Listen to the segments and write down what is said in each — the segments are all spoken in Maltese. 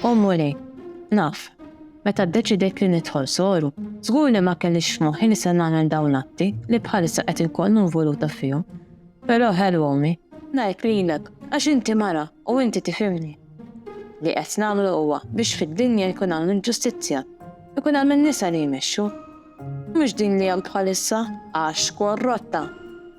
O Mulej, naf, meta ddeċidejt li nidħol soru, żgur li ma kellix f'moħħi li se nagħmel dawn l-atti li bħalissa qed inkun involuta fihom. Però ħelu Ommi. Ngħid lilek, għax inti mara u inti tifhimni. Li qed nagħmlu huwa biex fid-dinja jkun hawn il-ġustizzja, ikun hemm in-nisa li jmexxu. Mhux din li hemm bħalissa, għax korrotta.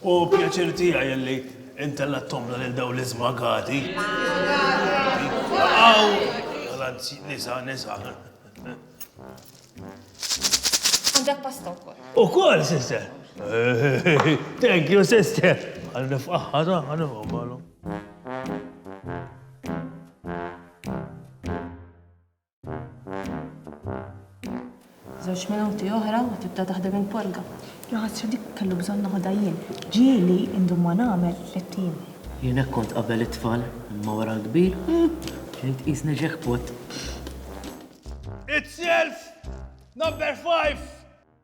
Hu pjaċir tiegħi li intellgħatthomna lil dawn l-iżmagati. Baqgħu l-anzji nisa nisa. Għandek pasta wkoll. Ukoll, sister. Thank you, sister. Għal nifqaħħa ta' għal nifqaħħa. Żewġ minuti oħra u tibda taħdem il-polga. Ja ħasra dik kellu bżonn noħodha jien. Ġieli indum ma nagħmel tlett ijiem. Jien hekk kont qabel it-tfal, imma wara l-kbir, bdejt tqisni jackpot. It's Self Number Five!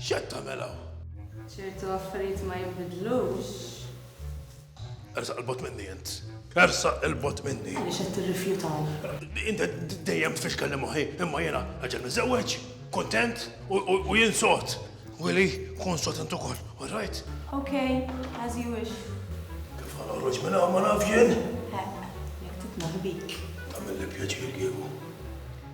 X'qed tagħmel hawn? Ċertu affarijiet ma jinbidlux. Ersaq il-bot minni int. Ersaq il-bot minni. Għaliex qed tirrifjutaw. Inta dejjem tfixkel li moħħi, imma jiena aġel miżewweġ, kontent u jien sot. Willy, kun sot int ukoll, all right? Okay, as you wish. Kif għal ħroġ minn hawn ma naf jien? Jekk titnaħbik. Tagħmel li pjaċir kieku.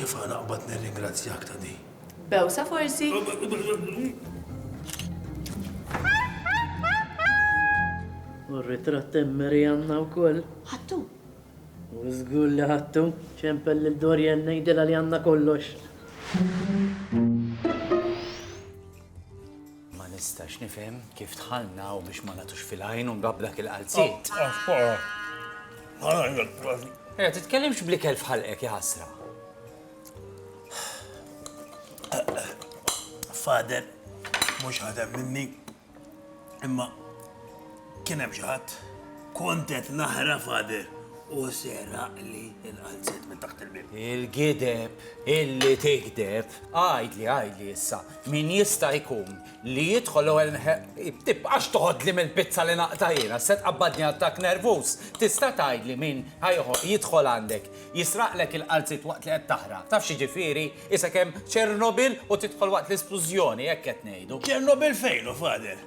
Kif għana qbad nirringrazzjak ta' di? Bewsa forsi? U r-ritratt emmeri għanna u koll. Ħattu. U zgur li ħattu, ċempel li Dorian nejdela li għanna kollox. Ma nistax nifhem kif dħalna hawn biex ma nagħtux fil-għajn u nbab dak il-qalziet. Eh, titkellimx bl-ikel f'ħalqek, jaħasra. Fader, mhux ħadem minni, imma Kien hemm xi ħadd? Kont qed naqra Father u seraqli l-qalziet minn taħt il-bieb. Il-gideb illi tigdeb. Għidli, għidli issa, min jista' jkun li jidħol l-ewwel Tibqax toħodli mill-pizza li naqta' jiena, se tqabbadni attakk nervuż. Tista' tgħidli min ħa jidħol għandek, jisraqlek il-qalziet waqt li qed taħraq. Taf x'jiġifieri? Isek hemm Ċernobil u tidħol waqt l-isplużjoni, hekk qed ngħidu. Ċernobil fejn hu, Father?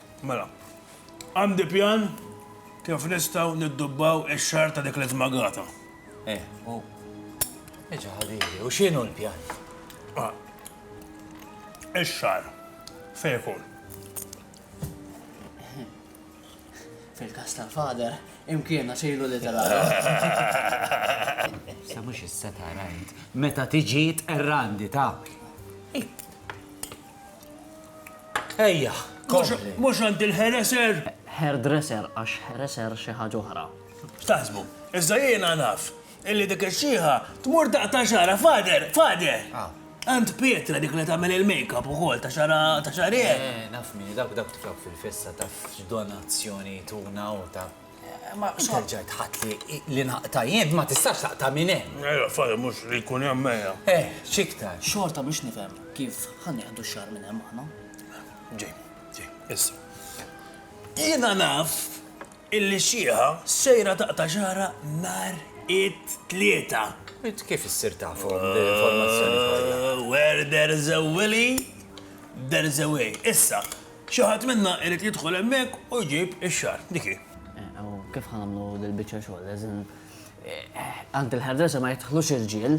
Mela, għandi pjan kif nistgħu niddubbaw ix-xahar ta' dik l-iżmagata. Eh, u. Eġa ħabibi, u x'inhu l-pjan? Ah, ix-xahar fejn ikun? Fil-kas tal-fader, imkiena xejlu li tal Sa mhux issa tara int, meta tiġi tqerrandi ta'. Ejja, kompli. Mhux għand il-ħereser? Hairdresser għax ħereser xi ħaġa oħra. X'taħsbu? Iżda jiena naf illi dik ix-xieħa tmur daqq ta' xara, fader, fader! Ah. Għand Pietra dik li tagħmel il-makeup ukoll ta' xara ta' xarien. Eh, naf min dawk dawk tiflok fil-festa taf x'donazzjoni tuna u ta' Ma xorġa tħatt li li naqta' jien ma tistax taqta' minn hemm. Ejja f'għada mhux li jkun hemm ejja. Eh, x'iktar. Xorta mhux nifhem kif ħa nieħdu x-xagħar minn hemm aħna. Ġej, ġej, issa. Jiena naf illi xieħa sejra taqta' xagħarha nhar it-Tlieta. Int kif issir tafhom l-informazzjoni kollha? Where there's a willy, there's a way. Issa, Xi ħadd minna irid jidħol hemmhekk u jġib ix-xagħar. Dik hi. Eh, u kif ħa nagħmlu dil-biċċa xogħol? As in, eh, għand il-ħerdesa ma jidħlux irġiel,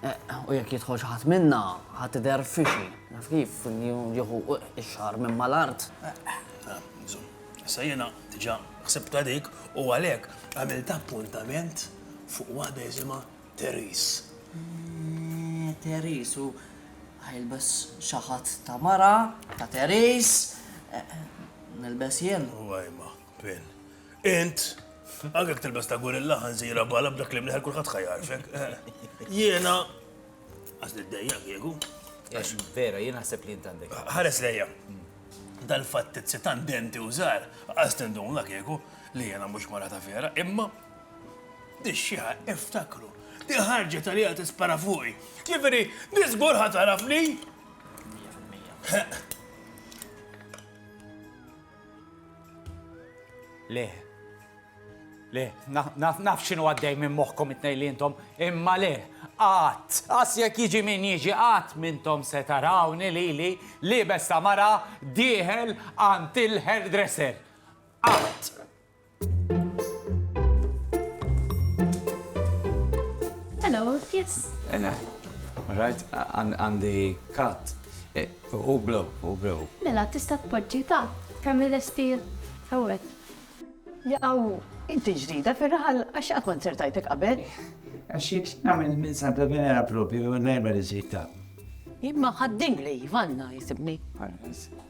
eh, u jekk jidħol xi ħadd minna, ħa tidher fixi. Naf kif jieħu ix-xagħar minn mal-art. Issa jiena diġà ħsibta dik u għalhekk għamilt appuntament fuq waħda jisimha Therese. Eeh, Therese, u ħa jilbes xi ħadd ta' mara, ta' Therese. Nilbes jien? U ajma, Pin. Int? Anke jekk tilbes ta' gurilla, ħanżira bala b'dak li mliħek kulħadd ħa jagħrfek. Jiena. Għax niddejjaq kieku. Għax vera, jien naħseb li int għandek. Ħares lejja. Dal-fatt tizzi tant denti u żgħar, qas tinduna kieku li jiena mhux mara ta' vera, imma Di x-xieħa, iftakru, di ħarġet għalija tispara fuqi. Ġifieri, di żgur ħa tarafni. Le, le, naf xinu għaddej minn moħkom it-nej li jintom, imma le, għat, għas jek jiġi minn jiġi għat minntom se tarawni li li li besta mara diħel għant il-hairdresser. Għat! Hello, yes. Ena, rajt għandi kat. Eh, u blu, u blu. Mela, tista' tpoġġi ta' kemm l-estil hawnhekk. Jaw, inti ġdida fir-raħal għax qatt ma nzertajtek qabel. Għax jekk nagħmel minn Santa Venera propju nerba li ġejta. Imma ħadding li Ivanna jisibni.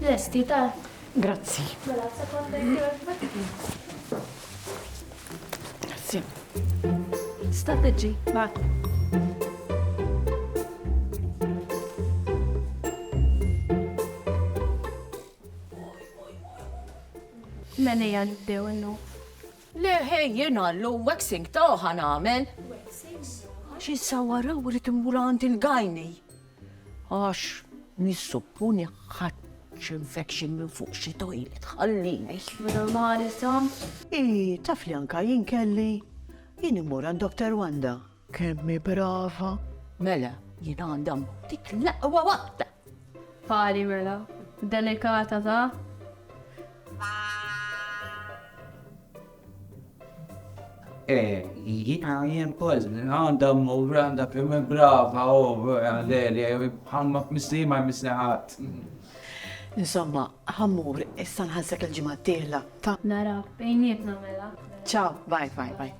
Lesti, tar. Grazzi. Mela, sekonda Grazzi. Sta tiġi, Mela hija nibdew innu. Le ħej jiena l waxing ta' ħan għamel. Xi sawara u rrid immur għand il-gajni. Għax nissupponi ħadt xi infection minn fuq xi toilet, ħallini. Ii, taf li anka jien kelli? Jien immur għand Doctor Wanda. Kemm hi brava! Mela, jien għandha mmotik l-aqwa waħda! Pari mela, delikata ta! Jiena jien ukoll għandha mmur għandha kemm brava u għaleli ħamma missli ma jmissli ħadd. Insomma, ħa mmur, issa nħallsek il-ġimgħa d-dieħla, ta? Nara bejnietna mela. Ciao, bye bye bye.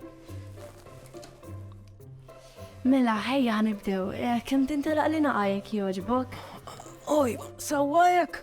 Mela, ħejja ħa nibdew. Kemm tintelaq l-inhaqa jekk jogħġbok? Oj, sewwa hekk?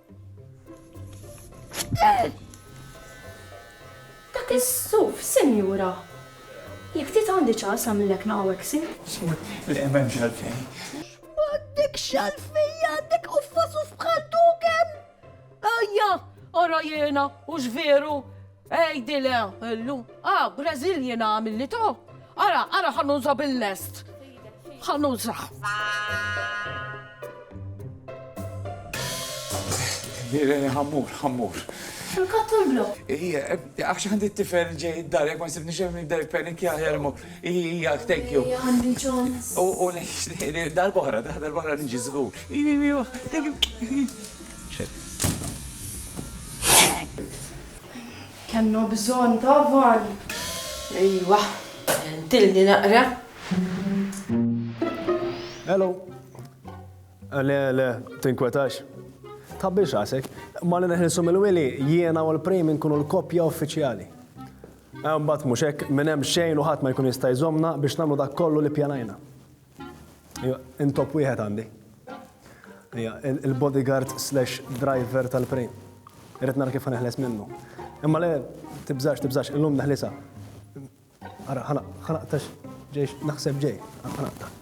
Dak is-suf, sinjura! Jekk ftit għandi ċans nagħmillek naqawaxing. Żgur li m'hemmx għalfejn. M'għandekx għalfejn għandek quffa suf bħal dok hemm! Ajja, ara jiena, hux veru! Għidilha, Llu, a Brażil jiena għamilli to. Ara, ara ħa nuża bil-lest. Ħa nuża. Ħammur, ħammur. Ħanqattu l-blok. Ija, għax għandi t-tifel ġej id-dar, jek ma nsibni xem id-dar penik jaħjar mu. Ija, thank you. Ija, għandi ċons. U, u, darbohra, darbohra nġi zgur. Ija, ija, thank you. Kellna bżonn ta' van. Ejwa, għentilni naqra. Hello. Le, le, tinkwetax. Tħabbix rasek. Malli neħilsu mill-wili, jiena u l-prim inkunu l-koppja uffiċjali. Mbagħad mhux hekk, minn hemm xejn u ħadd ma jkun jista' jżommna biex nagħmlu dak kollu li pjanajna. Intop wieħed għandi. Il-bodyguard slash driver tal-prejn. Irrid nara kif ħaneħles minnu. Imma le, tibżax, tibżax, illum neħlisa. Ara, ħana, ħana, tax, ġejx, naħseb ġej, ħana, tax.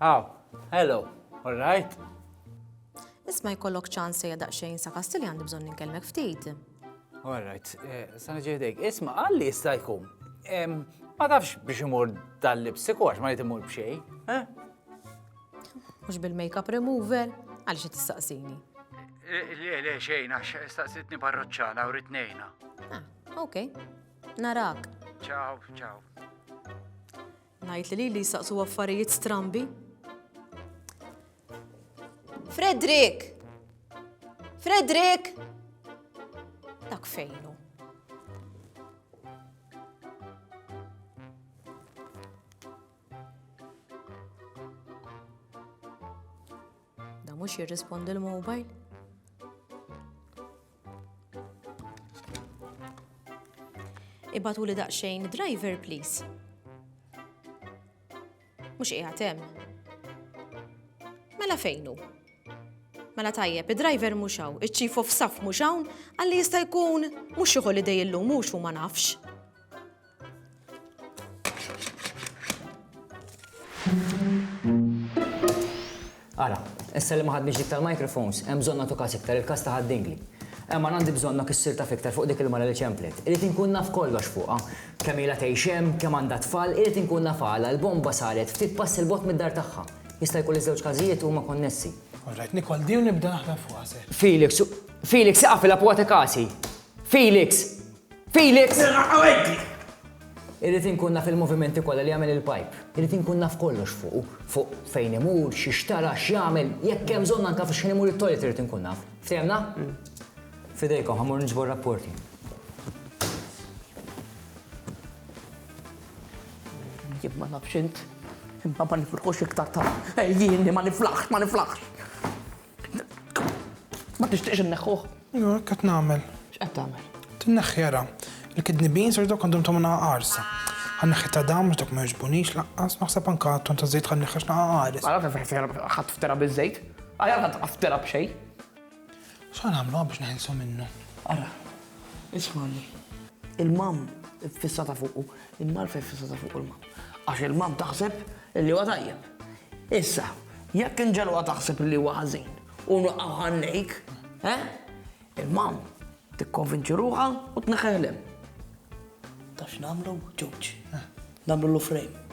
Aw, hello, all right? Isma jkollok ċans se jadaq xejn sa kastilli għandi bżon ninkellmek ftit. All right, eh, sa ġejdek, isma għalli jista' jkun. Ma tafx biex imur dal-lipsiku għax ma jtimur bxej, eh? Mhux bil-makeup remover, għaliex qed tistaqsini? Le, le, xejn, għax staqsitni parroċċana u ritnejna. Ah, ok, narak. Ciao, ciao. Najt li li saqsu affarijiet strambi. Fredrik! Fredrik! Dak fejnu. Da mhux jirrispondi l-mobile? Ibatu li daqsxejn driver please. Mhux qiegħed hemm. Mela fejnu? Mela tajjeb, id-driver mhux hawn, iċ-chief of staff mhux hawn, għalli jista' jkun mhux xi holiday illum mhux u ma nafx. Ara, issa li ma ħadniex dik tal-microphones, hemm bżonn nagħtu każ iktar il-każ ta' ħaddingli. Emma għandi bżonn ma kissir ta' fiktar fuq dik il-mara li ċemplet. Irid inkun naf kollox fuqha. Kemm ilha tgħix hemm, kemm għandha tfal, irid inkun naf għala l-bomba saret ftit pass il bot mid-dar tagħha. Jista' jkun li żewġ każijiet huma konnessi. Alright, Nikol, di nibda naħdem fuqha se. Felix, Felix, iqaf il-apwate kasi. Felix! Felix! Irrid inkun naf il-movimenti kollha li jagħmel il-pajp. Irrid inkun naf kollox fuqu, fuq fejn imur, x'ixtara, x'jagħmel, jekk hemm bżonn anke f' x'ħin imur it-toilet irrid inkun naf. Ftehimna? F'idejkom, ħa mmur niġbor rapporti. Jien ma nafx int, imma ma niflħux iktar ta' ejjieni ma niflaħx, ma niflaħx. Ma tixtiqx inneħħuh? Jo, hekk qed nagħmel. X'qed tagħmel? Tinneħħi ara. Il-kidney beans irid dok għandhom tagħmilha qarsa. Ħanneħħi ta' dam dok ma jogħġbunix laqqas, naħseb anke ton ta' żejt ħanneħħi x'naqa qares. Ara fejn fejn ħadd ftera biż-żejt. Aħjar ħadd ftera b'xejn. X'għan nagħmlu biex neħilsu minnu? Ara, ismani. Il-mam fissata fuqu, in-nar fejn fissata fuq il-mam. Għax il-mam taħseb li huwa tajjeb. Issa, jekk inġegħluha taħseb li huwa ħażin u nwaqqgħu ħannejk, eh? Il-mom tikkonvinċi ruħha u tneħħiħ lem. Tax nagħmlu ġewġ. Nagħmlu lu frame.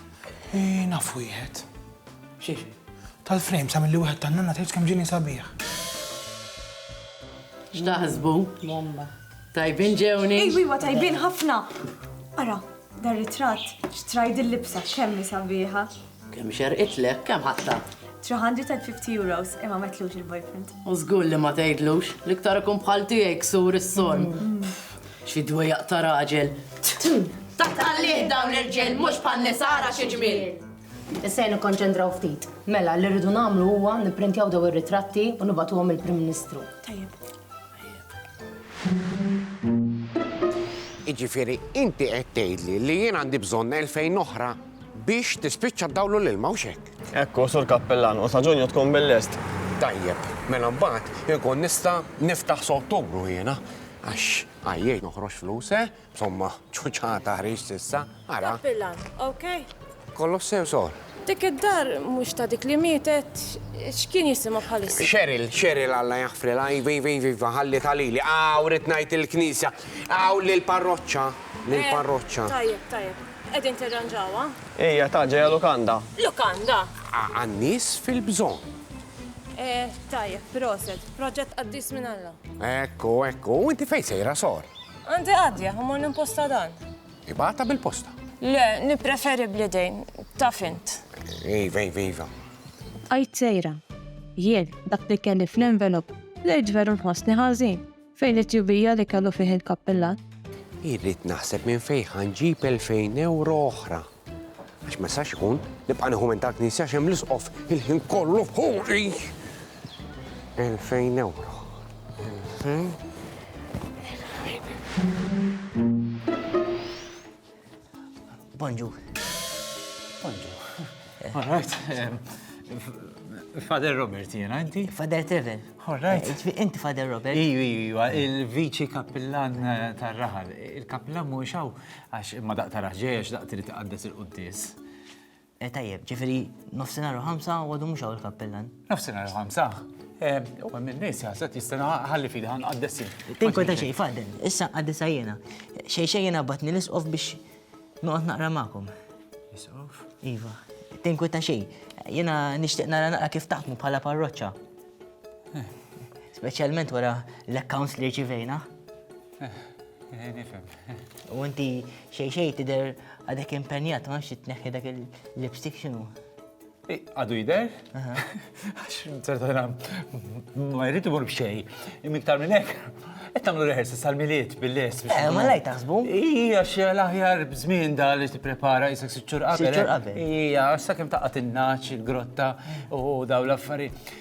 Eh, naf wieħed. Xiex? Tal-frame sa milli wieħed tan-nanna tgħid kemm ġini sabiħ. X'taħsbu? Bomba. Tajbin ġewni? Ej, wiwa tajbin ħafna. Ara, Dar ritratt, xtrajt din libsa kemm hi sabiħa. Kemm xerqitlek, kemm ħadtha? 350 euros, imma metlux il-boyfriend. U żgur li ma tgħidlux, l-iktar ikun bħal tiegħi ksur is-sorm. Xi dwejjaq ta' raġel. Tatallih dawn l-irġiel mhux bħal nisara xi ġmiel. Issa nikkonċentraw ftit. Mela, li rridu nagħmlu huwa nipprintjaw daw ir-ritratti u nibgħatuhom il-Prim Ministru. Tajjeb. Jiġifieri inti qed tgħidli li jien għandi bżonn elfejn oħra biex tispiċċa d-dawl u l-ilma hux hekk? Ekku, Sur Kappillan, u sa Ġunju tkun bil-lest. Tajjeb, mela mbagħad inkun nista' niftaħ s' Ottubru jiena għax għajjejt noħroġ flus, eh? Somma, ċuċata ħriġt issa, ara. Tappilla, okay? Kollox sew sor. Dik id-dar mhux ta' dik li mietet, x'kien jisimha bħalissa? Cheryl, Cheryl Alla jaħfrilha, iva, iva, iva, iva, ħallitha lili. Aw, rrid ngħid il-knisja, aw lill-parroċċa, lill-parroċċa. Eh, tajjeb, tajjeb. Qegħdin tirranġawha? Hija ta' ġejja lukanda. Lukanda? Għan-nies fil-bżonn. Eh, tajjeb, proset, proġett qaddis minn Alla. Ekku, ekku, u inti fejn sejra sor? Għandi għaddja, u mmur nimposta dan. Ibgħatha bil-posta. Le, nippreferi bl-idejn, taf int. Iva, iva, iva. Bqajt sejra. Jien, dak li kelli fl-envelop, bdejt veru nħossni ħażin, fejn it-tjubija li kellu fih il-kappillan. Irrid naħseb minn fejn ħa nġib elfejn ewro oħra. Għax ma jistax ikun, nibqa' nieħu minn tal-Knisja għax hemm l-isqof il-ħin kollu fuqi. 2000 euro. 2000 Bonġu. Bonġu. All right. Father Robert jena, inti? Father Trevor. All right. Eh, inti Father Robert? Iju, iju, il-viċi kappillan eh, tar-raħal. Il-kappillan mu ixaw, Għax imma daqq tarax ġej għax daqq trid iqaddes il-quddies. Eh, tajjeb, ġifiri, nofsinhar u ħamsa u għadu mhux hawn il-kappellan. Nofsinhar u ħamsa? Eh, u hemm in-nies jaħseb jistana ħalli fidi ħan qaddessi. Tinkun ta' xejn fadden, issa qaddesa jiena. Xejn xejn jiena batni l-isqof biex noqgħod naqra magħkom. Isqof? Iva, tinkun ta' xejn. Jiena nixtieq nara naqra kif taħdmu bħala parroċċa. Eh. Speċjalment wara l-accounts li rċivejna. U inti xej xej tidher għadek impenjat ma nafx tneħħi dak il-lipstick x'inhu. Għadu jidher? Għax ċertana ma jrid imur b'xej. Imiktar minn hekk, qed tagħmlu rehearsal sal-miliet bil-les. Eh, ma lajt taħsbu? Hija xi l-aħjar b'żmien da li tipprepara jisek siċċur qabel. Siċċur qabel. Hija sakemm taqgħod in-naċ, il-grotta u daw l-affarijiet.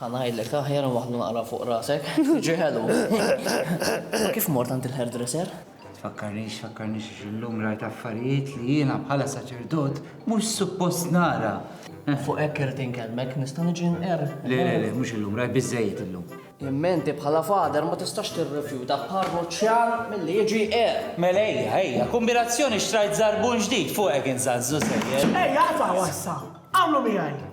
Ħa ngħidlek aħjar u waħdu naqra fuq rasek. Ġi ħelu. Kif mort għand il-hairdresser? Tfakkarnix, tfakkarnix illum rajt affarijiet li jiena bħala saċerdot mhux suppost nara. Fuq hekk irid inkellmek, nista' niġi nqer. Le, le, le, mhux illum, rajt biżejjed illum. Imma inti bħala fader ma tistax tirrifjuta parroċċjan milli jiġi qer. Mela ejja, ejja, kombinazzjoni xtrajt żarbun ġdid fuq hekk inżanżu sejjer. Ejja, aqtgħu issa. Għamlu miegħi.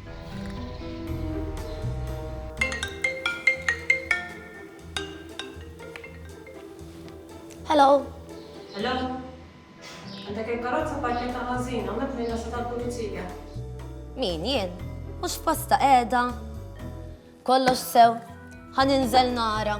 Hello. Hello. Għandek il-karozza parketta ħażin, għamet minna sa tal-pulizija. Min jien? Mhux posta qiegħda. Kollox sew, ħan inżel nara.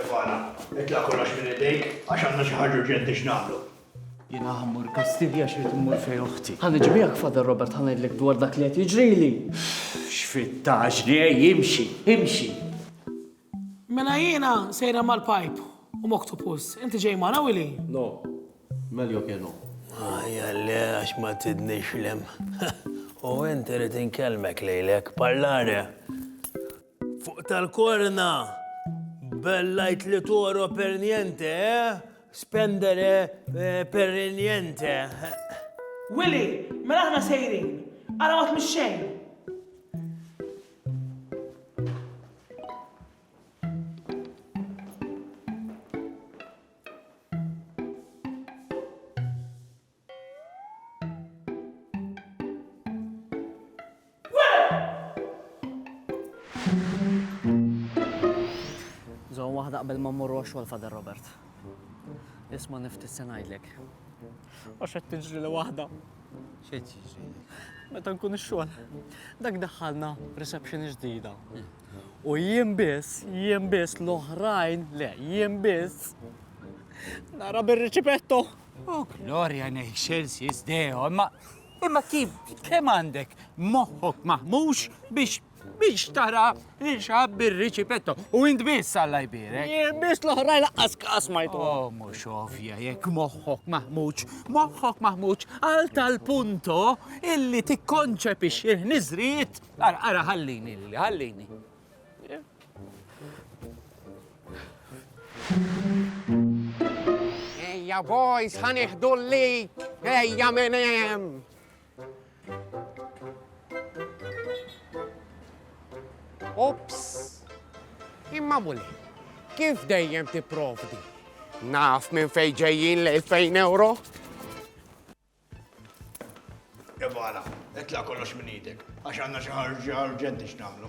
Evana, itla' kollox minn idejk għax għandna xi ħaġa urġenti x'nagħmlu. Jiena ħammur Kastilja xi rid immur fejn oħti. Ħa niġbihek Father Robert ħa ngħidlek dwar dak li qed jiġrili. X'fittaġni, ej imxi, imxi! Mela jiena sejra mal-pipe u m'octopus. Inti ġej magħna Willy? No. Meljo ke no. Ajja le għax ma tidnix l-hemm. U int irid inkellmek lejlek, parlare! Fuq tal-korna! Bellajt li toro per niente, eh? Spendere per niente. Willy, mela aħna sejrin. Ara ma tmix xejn. waħda qabel ma mmorru għax-xogħol Father Robert. Isma' niftit se ngħidlek. Għax qed tiġri li waħda. X'qed jiġri? Meta nkun ix-xogħol, dak daħħalna reception ġdida. U jien biss, jien biss l-oħrajn, le, jien biss nara bir-riċipetto. Oh, Gloria in excelsis Deo, imma imma kif kemm għandek moħħok maħmux biex biex tara li xab bir-riċipetto. U int biss Alla jbirek. Jien biss l-oħraj laqqas kas ma jtu. Oh, mhux ovvja jekk moħħok maħmuġ, moħħok maħmuġ għal tal-punto illi tikkonċepix il-ħniżrijiet. Ara, ara, ħallini, ħallini. Ejja, boys, ħaniħdu l-lik. Ejja, menem. Ops! Imma muli, kif dejjem tipprovdi? Naf minn fejn ġejjin l-2000 euro? Jabala, itla kollox minn idek, għax għanna xi ħarġa urġenti x'nagħmlu.